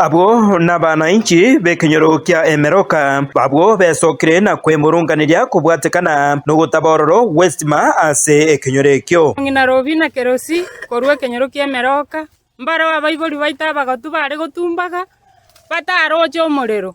Abwo nabaanainchi b'ekenyoro kia emeroka, abwo besokire na kwemurunganeria kobwatekana nogotaba ororo gw'estima ase ekenyoro ekio. Ng'ina Robi na Kerosi, korwa ekenyoro ki'emeroka, mbareo abaibori baito abagotu baare gotumbaga. bataaroche omorero.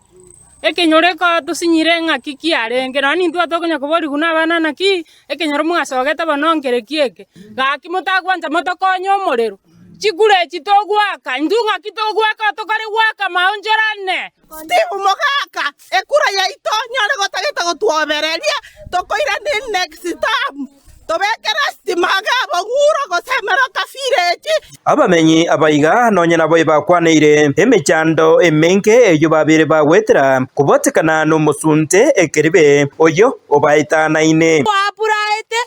Ekenyoro ekotosinyire ng'a ki kiarenge, nonya nintwe tokonya koborigwa nabana ng'a ki ekenyoro mwasogete bono nkere ki eke. Gaki motagwancha motokonye omorero, chikure echi togwaka, intwe ng'a ki togwaka tokore gwaka maonchorane. Steve, Mogaka, ekura yaito nyore gotagete gotwobereria tokoiraneria next term. Tobekere esitima age aboguro, gose emeroka firechi. Abamenyi abaiga nonye nabo ebakwaneire emechando emenge eyio babeire bagwetera kobatekana nomosunte ekeribe oyio obaetanaine. Twapuraete,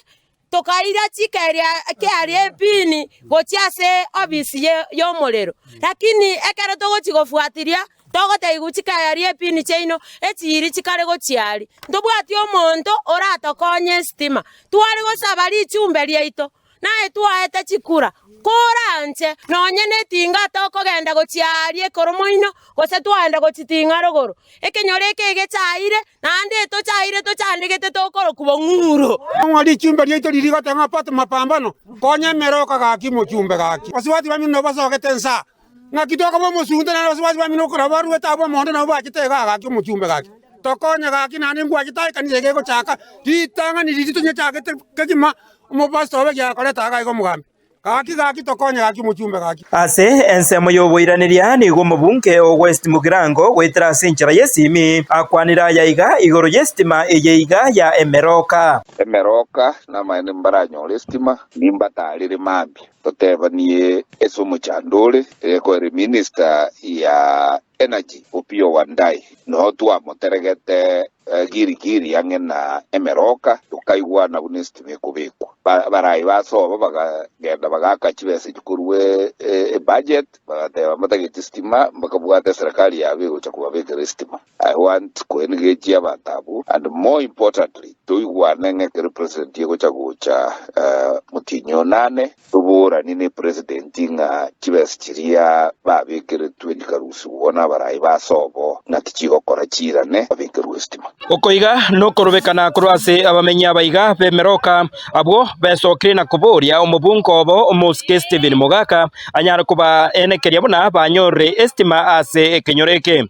tokaira chikeria kiaria epini gochia ase obisi y'omorero. Lakini ekero togochia gofuatiria Togotaigwa chikayari epini chiaino echiiri chikare gochia ari. Ntobwati omonto oratokonye esitima. Tware gosaba richumbe riaito, naye twaete chikura. Koranche nonye netinga tokogenda gochia ari ekoro moino, gose twaenda gochiting'a rogoro. Ekenyoro eke egechaire, naende etochaire tochandegete tokorokwa bong'uro. Nang'o richumbe riaito riri goteba ng'a, Patu mapambano, konya emere okagaki mochumbe gaki? Basubati bamino basogete ensa, Naki tokaba omosunte nere abasubati bamino okorora barwete abwo omonto nabo bachete iga agaki omochumbe gaki, Tokonye gaki naende ngwachete aye ekanisa ege egochaka ritang'ani riria tonyechagete kegima omopastor obe giakorete aa gaiga omogambi. Gaki gaki tokonye gaki omochumbe gaki. Ase ensemo y'oboiraneria nigo omobunge o West Mugirango goetera ase enchera y'esimi akwanire aya iga igoro y'esitima eye iga ya emerooka. Emerooka namaene mbaranyore esitima, nimbatarire mambia. Totebanie ase omochando ore reko ere minister ya energy Opiyo Wandayi noo twamoteregete giri giri ang'e na emeroka tokaigwana buna esitima ekobekwa. Barai basoba bagagenda bagaaka chibesa echi korwa ebudget bagateba mbatagete esitima bakabwata eserekari yabo egocha kobabekera esitima. I want koengage abanto abwo and more importantly toigwane ng'a ekero president egocha gocha motienyi oo nane toboranie ne president ng'a chibesa chiria babekeretwe ndikarusigwe igo nabarayi ba sobo ng'a tichigokora chiirane babekerwe estima. Oko iga nokorobekana korwa ase abamenyi abaiga b'emeroka abwo besokire na koboria omobunga obo omosike Stephen Mogaka anyare kobaa eene keria buna banyorire estima ase ekenyoro eke.